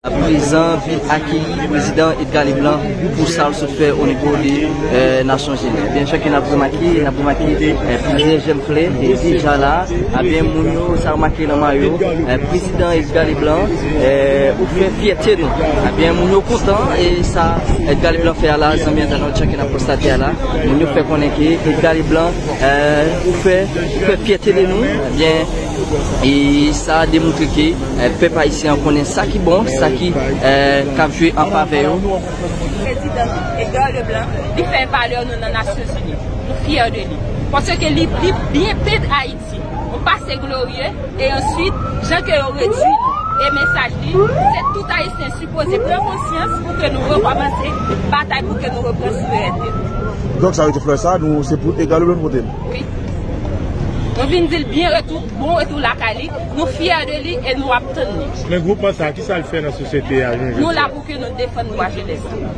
Prezan vin akeyi Prezidan Edgar Leblanc pou sa l sot fè o nivo de Nasyon Zini. Ebyen chak yon ap remake, n ap remake plizyè jèm flè ki deja la. Ebyen moun yo sa yo make nan mayo Prezidan Edgar Leblanc ou fè fyète nou. Ebyen moun yo kontan e sa Edgar Leblanc fè a la, zanmi entènot chak yon ap konstate a la. Moun yo fè konnen ke Edgar Leblanc Ou fè fyète de nou, ebyen e sa demoutre ke pèp ayisyen an konnen sa ki bon, sa ki kab jwe an favè yo. Prezidan Edgar Leblanc, li fè valè nou nan Nasyonzini. Nou fyè de li. Paske li byen pent Ayiti. Yon pase glorye e answit jan ke yo redui nou. E mesaj li, se tout ayisyen. Poze pran konsyans pou ke nou rekòmanse batay pou ke nou repran souverènte nou. Donk sa vle di flè sa nou se pou egal ou byen pote l? Wi. Nou vin di l byen retou, bon retou lakay li, nou fyè de li e nou ap tann li. Men gwoupman sa ki sa l fè nan sosyete a jounen jodi a? Nou la pou ke nou defann dwa jenès la.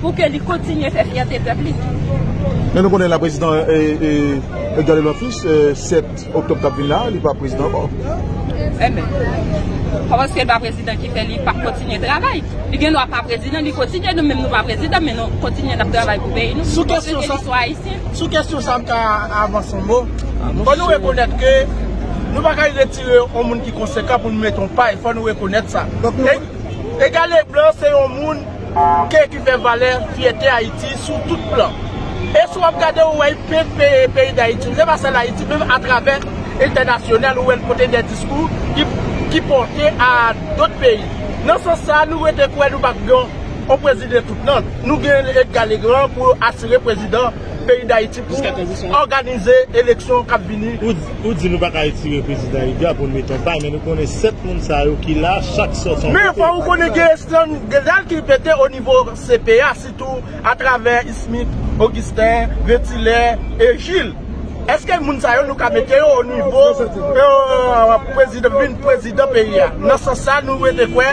Pou ke li kontinye fè fyète pèp li. Men nou konnen la prezidan Edouard Leblanc Fils 7 Oktob kap vin la li pa prezidan ankò. Enben. Kòman paske li pa prezidan ki fè li pap kontinye travay? Li gen dwa pa prezidan li kontinye nou menm nou pa prezidan men nou kontinye nap travay pou peyi nou. Sou kèsyon sa. Paske nou sou ayisyen. Sou kèsyon sa m ta avanse yon mo. Fò nou rekonèt ke nou pa ka retire yon moun ki konsekan pou nou mete yon pay. Fò nou rekonèt sa. Edgar Leblanc se yon moun. Ke ki fè valè, fyète Ayiti sou tout plan. E si w ap gade ou wè y pe pe peyi Dayiti. Se pa sèl Ayiti menm atravè entènasyonal ou wè l pote dè diskou ki pòte a dòt peyi. Nan sans sa nou rete kwè nou pa p gen yon prezidan tout nan. Nou gen Edga Legran pou asire prezidan. peyi dayiti pou òganize eleksyon kap vini. Ou di nou pa ka retire prezidan Edgar pou nou mete yon pay men nou konnen 7 moun sa yo ki la chak sòt yon kote. Men fò ou konnen gen estran gèdal ki pete o nivo CP a sitou a travè Ismit, Augustin, Vetilè e Gilles. Eske moun sa yo nou ka mete yo o nivo pou vin prezidan peyi a? Nan sans sa nou rete kwè.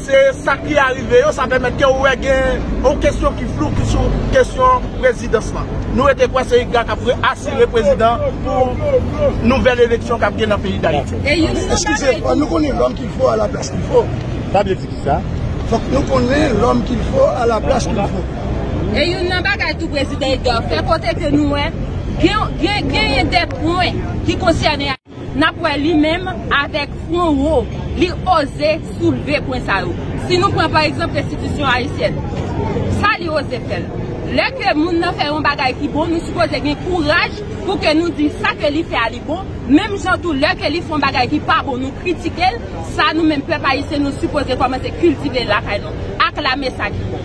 Se sa ki arive yo, sa pèmèt ke ou wè gen yon kesyon ki flou ki sou kesyon prezidans lan. Nou rete kwè se IGRA kap re-asire prezidan pou nouvèl eleksyon kap gen nan peyi Dayiti. Eskize, fòk nou konnen lòm kil fo a la plas kil fo. Sa vle di kisa? Fòk nou konnen lòm kil fo a la plas kil fo. E youn nan bagay tou Prezidan Edgar fè kote ke nou wè genyen de pwen ki konsène. Nap wè li menm avèk fwon wo li oze soulve pwen sa yo. Si nou pran pa egzanp restitisyon ayisyèn. Sa li oze fè l. Lè ke moun nan fè yon bagay ki bon nou sipoze gen kouraj pou ke nou di sa ke li fè a li bon, menm jan tou lè ke li fon bagay ki pa bon nou kritike l, sa nou menm pèp ayisyen nou sipoze kòmanse kiltive lakay nou, aklame sa ki bon.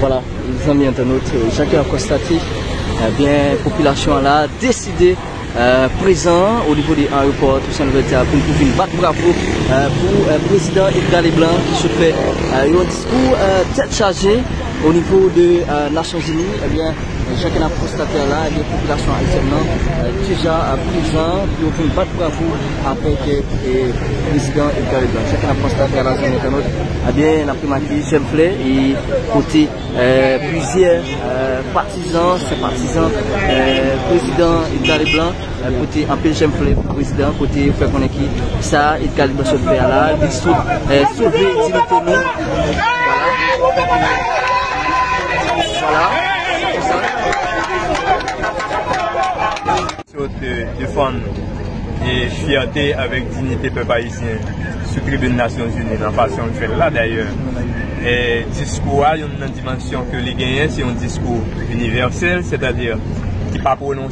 Vwala zanmi entènot, jan ke nou konstate, ebyen popilasyon an la deside prezan o nivo de ayewopò Tousen Louvèti a pou vin bat bravo pou prezidan Edga Leblan ki sot fè yon diskou tèt chaje o nivo de Nasyonzini. Jan ke nap konstate la gen popilasyon ayisyèn nan ki jan prezan pou yo vin bat bravo avèk prezidan Edgar Leblanc. Jan ke nap konstate a la zanmi entènot, ebyen nap remake jèn flè e kote plizyè patizan, senpatizan prezidan Edgar Leblanc. Kote anpil chen vole pou prezidan, kote yo fè konnen ki sa Edgard Blanchot fè a la, li sot sove diyite nou. Sot defann e fiyate avèk diyite pèp ayisyen sou tribune Nasyon Zini nan fasyon li fè l la dayè. E diskou a, yon nan dimansyon ke li genyen, se yon diskou inivèsèl, sètadi ki pa pwononse.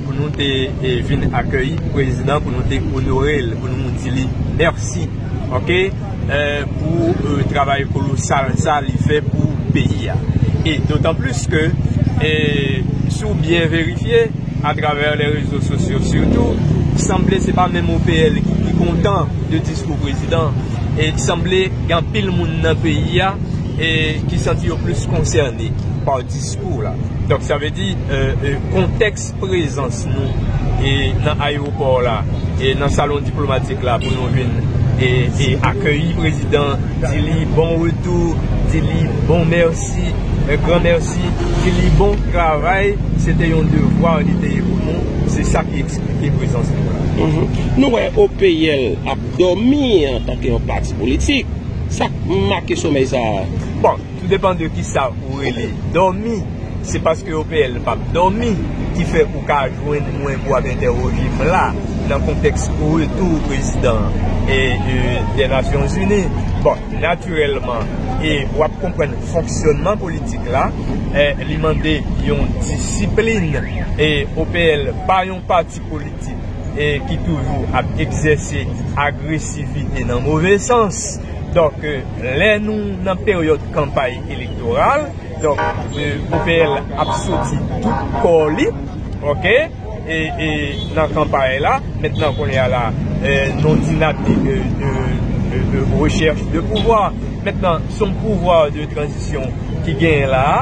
Pou nou te vin akeyi prezidan pou nou te onore l, pou nou di li mèsi ok pou travay kolosal sa li fè pou peyi a e dotan plis ke si w byen verifye atravè lè rezo sosyo sitou sanble se pa menm OPL ki pi kontan de diskou prezidan e sanble gen anpil moun nan peyi a ki santi yo plis konsène pa diskou. diskou w la. Donk sa vle di kontèks prezans nou nan ayewopò la e nan salon diplomatik la pou nou vin akeyi prezidan, di li bon retou, di li bon mèsi, un grand merci, di li bon travay, se te yon devwa li te ye pou nou, se sa ki eksplike prezans nou la. Nou wè OPL ap dòmi antanke yon pati politik, sa k make somèy sa a? Bon. Tou depan de kisa ou rele dòmi, se paske OPL pap dòmi ki fè ou ka jwenn mwen pou ap entèwoje m la nan kontèks retou prezidan dè Nasyon Zini. Bon, natirèlman, e w ap konprann fonksyònman politik la, li mande yon disiplin e OPL pa yon pati politik ki toujou ap egzèse agresivite nan move sans. Donk lè nou nan peryòd kanpay elektoral, donk OPL ap soti tout kò li nan kanpay la. Mentnan kounye a la, nou di n ap di de rechèch de pouvwa. Mentnan se yon pouvwa de tranzisyon ki genyen la a,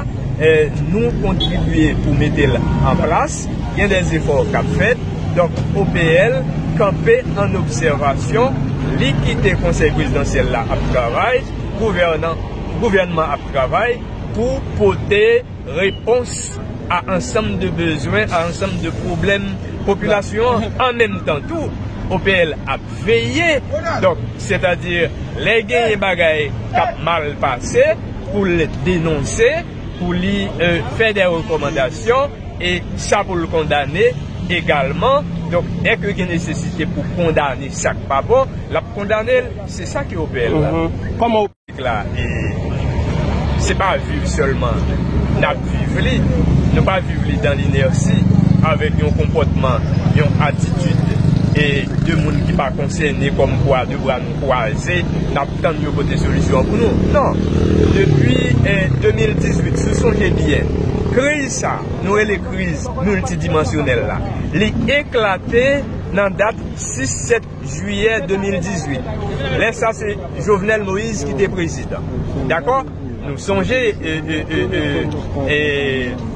nou kontribye pou mete l an plas. Gen de zefò k ap fèt, donk OPL kanpe ann obsèvasyon, li kite Konsèy Prezidansyèl la ap travay, gouvènman ap travay pou pote repons a ansanm de bezwen, a ansanm de pwoblèm popilasyon an. An menm tan tou, OPL ap veye, donk sètadi lè genyen bagay k ap mal pase pou l denonse. pou li fè dè rekòmandasyon e sa pou l kondane egalman. Donk, dè ke gen nesesite pou kondane sa k pa bon, l ap kondane l. Se sa ki OPL la. Kòman OPL la, e se pa viv sèlman n ap viv li, nou pa viv li dan l'inertie avèk yon konpòtman, yon atitid e de moun ki pa konsène kòmkwa de bra nou kwaze n ap. Tann yo pote solisyon an pou nou. Non! Depi 2018, si w sonje byen, kriz sa a, nou rele kriz miltidimansyonèl la, li eklate nan dat 6, 7 jiyè 2018. Lè sa se Jovenel Moïse ki te prezidan. Dakò? Nou sonje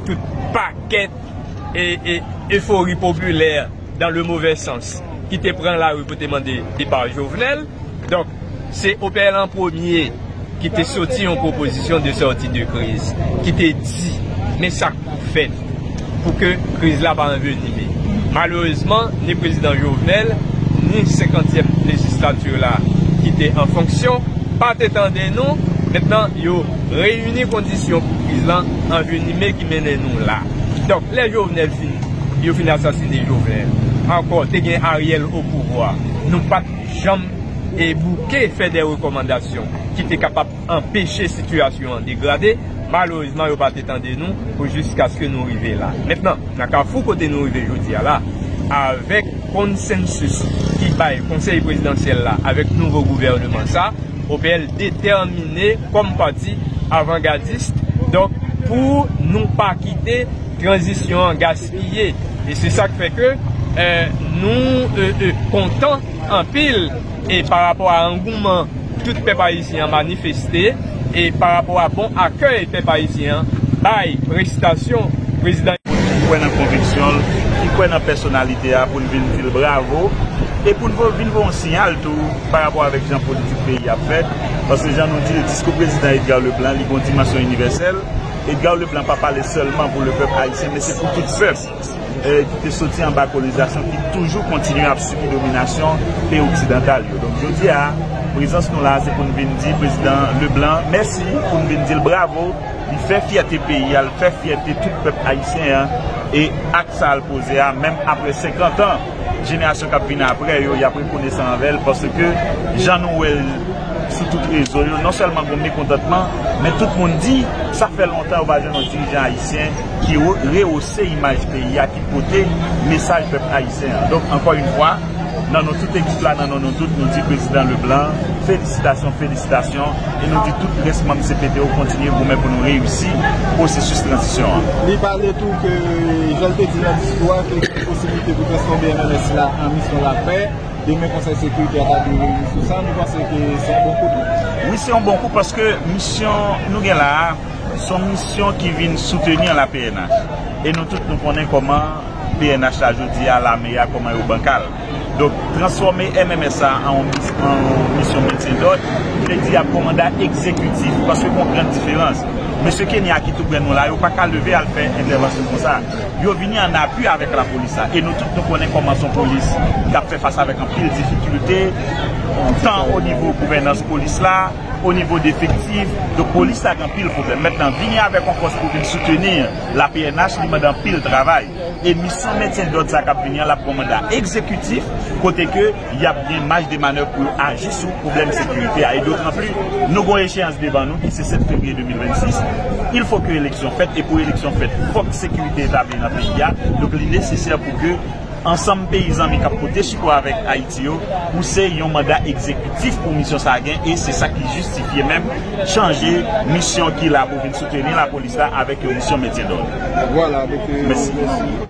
tout pakèt efori popilè. dan le movè sans ki te pran lari pou te mande depa Jovenel. Donk, se OPL an premye ki te soti yon pwopozisyon de sòti de kriz, ki te di, men sa k pou fèt pou ke kriz la pa anvenime. Malerezman, ni Prezidan Jovenel, ni senkantyèm lejislati la ki te an fonksyon, pa te tande nou, mentnan yo reyini kondisyon pou kriz lan anvenime ki mennen nou la. Donk, lè Jovenel. Yo fin asasine jovenel. Anko te gen ariel o pouvwa nou pat janm e bouke fè dè rekomandasyon ki te kapab anpeche sitiyasyon an degrade malerezman yo pa te tande nou pou jiskaske nou rive la mentnan nan kafou kote nou rive jodia la avek konsensus ki bay konsey prezidansyel la avek nouvo gouverneman sa OPL detèmine kom pati avangadist donk pou nou pa kite. Tranzisyon an gaspiye e se sa k fè ke nou kontan anpil e pa rapò a angouman tout pèp ayisyen an manifeste e pa rapò a bon akèy pèp ayisyen an bay prestasyon prezidan. Moun ki kwè nan konviksyon l, ki kwè nan pèsonalite a pou n vin di l bravo e pou n vin voye yon siyal tou pa rapò avèk jan politik peyi a ap fèt paske jan nou di l diskou prezidan Edgar Leblanc li gen yon dimansyon inivèsèl. Edgard Leblanc pa pale sèlman pou lepèp ayisyen men se pou tout pèp ki te soti anba kolonizasyon ki toujou kontinye ap sibi dominasyon peyi oksidantal yo. Donk jodi a, prezans nou la a se pou n vin di Prezidan Leblanc mèsi, pou n vin di l bravo, li fè fyète peyi a, li fè fyète tout pèp ayisyen an e ak sa l poze a menm aprè 50 an. jenerasyon k ap vini apre yo, y ap rekonesan anvè l paske jan nou wè l sou tout rezo yo, non sèlman gen mekontantman, men tout moun di sa fè lontan yo pa jwenn yon dirijan ayisyen ki rewose imaj peyi a, ki pote mesaj pèp ayisyen an. Donk, ankò yon fwa, nan non tout ekip la, nan non nou tout, nou di Prezidan Leblanc, felisitasyon, felisitasyon, e nou di tout rès manm cpt yo kontinye goumen pou nou reyisi pwosesis tranzisyon an. Li pale tou ke, jan l te di nan diskou a, ke. posibilite pou transfòme MMS la an misyon lapè, demen Konsèy Sekirite a ta dwe reyini sou sa, nou panse ke se yon bon kou tou? Wi, se yon bon kou paske misyon nou gen la a, se yon misyon ki vin soutenir la pnh. E nou tout nou konnen kòman pnh la jodi a, lame a, kòman yo bankal. Donk, transfòme MMS la an yon misyon mentyen dòd, vle di y ap kòmanda egzekitif, paske gen yon gran diferans. Mesye Kenya ki tou prè nou la, yo pa ka leve al fè entèvansyon konsa. Yo vini an apui avèk lapolis la e nou tout nou konnen kòman son polis k ap fè fas avèk anpil difikilte tan o nivo gouvènans polis la, o nivo defektif. Donk polis la gen anpil pwoblèm. Mentnan vini avèk yon fòs pou vin souteni la pnh li mande anpil travay e misyon mentyen dòd sa k ap vini an l ap pran manda egzekitif kote ke y ap gen maj de manèv pou yo aji sou pwoblèm sekirite a e dotranpli nou gon echeyans devan nou ki se 7 fevriye 2026 il fo ke eleksyon fèt e pou eleksyon fèt fòk sekirite etabli nan peyi a donk li nesesè pou ke ansanm peyi zanmi k ap pote sipò avèk Ayiti yo pouse yon manda ekzekitif pou misyon sa a gen e se sa ki jistifye menm chanje misyon ki la pou vin souteni lapolis la avèk yon misyon mentyendòd. Mèsi.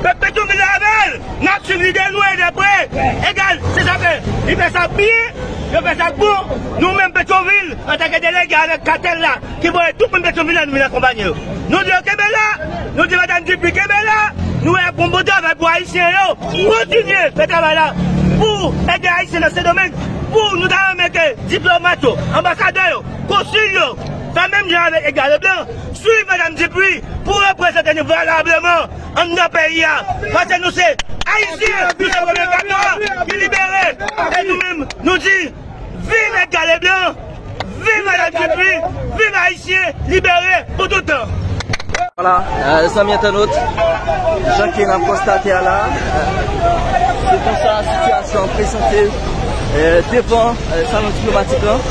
Pèp Petyonvil avèl! Nap swiv lide nou e de pre egal se sa fè li fè sa k byen, yo fè sa k bon. Nou menm Petyonvil antanke delege avèk katèl la ki voye tout moun Petyonvil la nou vin akonpanye yo. Nou di yo kenbe la, nou di madam Dupuy kenbe la, nou wè yap fon bon travay pou ayisyen yo. Kontinye fè travay la pou ede ayisyen nan Sendomeng pou nou ta renmen ke diplomat yo, anbasadè yo, konsil yo fè menm jan avèk Edgar Leblanc, swiv madam Dupuy pou reprezante nou valableman. Anndan peyi a, paske nou se Ayisyen, nou se premye katon an ki libere e nou menm nou di viv Edga Leblan, viv Madan Dupuy, viv Ayisyen libere pou tout tan. Wala, zanmi entènot, jan ke nap konstate a la, se konsa sitiyasyon an prezante devan salon diplomatik lan.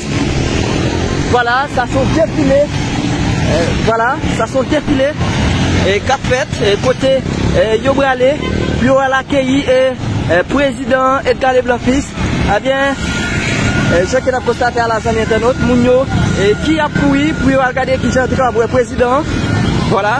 Vwala sa se yon defile Vwala sa se yon defile k ap fèt kote yo prale pou yo al akeyi prezidan Edgar Leblanc Fils Ebyen jan ke n ap konstate a la zanmi entènot moun yo ki ap kouri pou yo al gade kijan yo te kapab wè prezidan Vwala.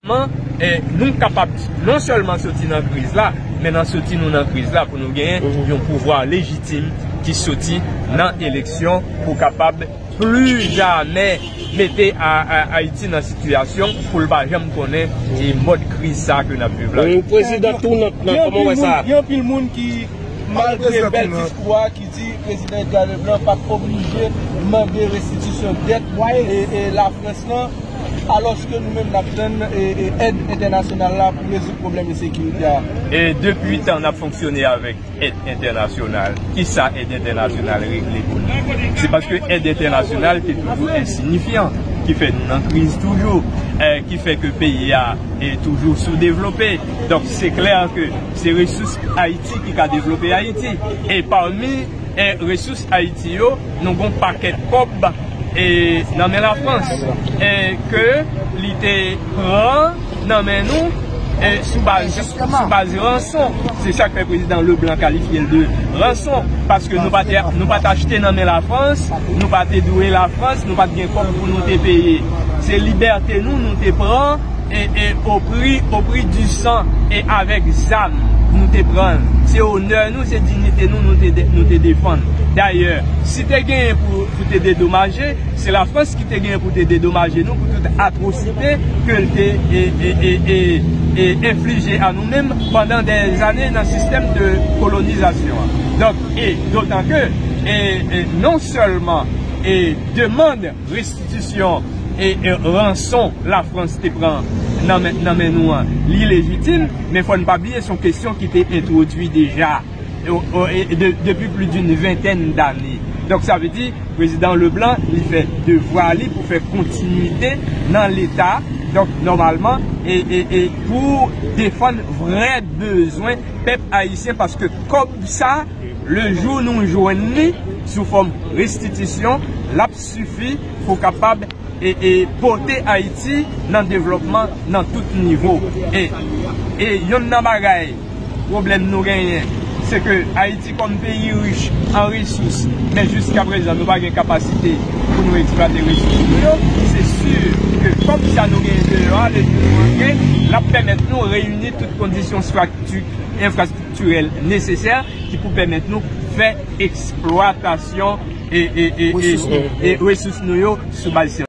Kòman nou kapab non sèlman soti nan kriz la, men nan soti nou nan kriz la pou nou genyen yon pouvwa lejitim ki soti nan eleksyon pou kapab plu jamè mete Ayiti nan sitiyasyon pou l pa janm konnen mòd kriz sa ke n ap viv la. Gen anpil moun ki malgre bèl diskou a ki. Si Prezidan Edgar Leblanc pa t oblije mande restitisyon dèt Lafrans lan, alòske nou menm n ap tann èd entènasyonal la pou rezoud pwoblèm ensekirite a. E depi 8 an n ap fonksyone avèk èd entènasyonal, ki sa èd entènasyonal regle pou nou? Se paske èd entènasyonal te toujou ensinyifyan ki fè nou nan kriz toujou, ki fè ke peyi a toujou soudevlope. Donk se klè ke se resous Ayiti. Ki ka devlope Ayiti. E pami resous Ayiti yo, nou gon pakèt kòb nan men Lafrans ke li te pran nan men nou sou baz ranson. Se sa k fè prezidan Leblanc kalifye l de ranson. Paske nou pa t achte nan men Lafrans, nou pa te dwe Lafrans, nou pa t gen kòb pou nou te peye. Se libète nou nou te pran. Opri, opri di san e avèk zam nou te pran l. Se onè nou, se dignite nou nou te defann. Dayè, si te genyen pou te dedomaje, se Lafrans ki te genyen pou te dedomaje nou pou tout atwosite ke l te enflije a nou menm pandan dè zane nan sistèm de kolonizasyon an. Donk, e dotan ke, e non sèlman e demand. Restitisyon e ranson Lafrans te pran nan men nou an, li lejitim, men fò n pa bliye s on kesyon ki te entwodui deja depi pli doun ventèn dane. Donk sa vle di Prezidan Leblanc li fè devwa li pou fè kontinuite nan Leta, donk nòmalman e pou defann vrè bezwen pèp ayisyen paske kòb sa, Le jou nou jwenn li sou fòm restitisyon, l ap sifi pou kapab pote Ayiti nan devlòpman nan tout nivo. E yonn nan bagay, pwoblèm nou genyen, se ke Ayiti kòm peyi rich an resous, men jiska prezan nou pa gen kapasite pou nou eksplwate resous nou yo, se si ke kòb sa nou genyen deyò a, le jou nou antre, l ap pèmèt nou reyini tout kondisyon enfrastrikti. estriktirèl nesesè ki pou pèmèt nou fè eksplwatasyon resous nou yo sou baz syantifik.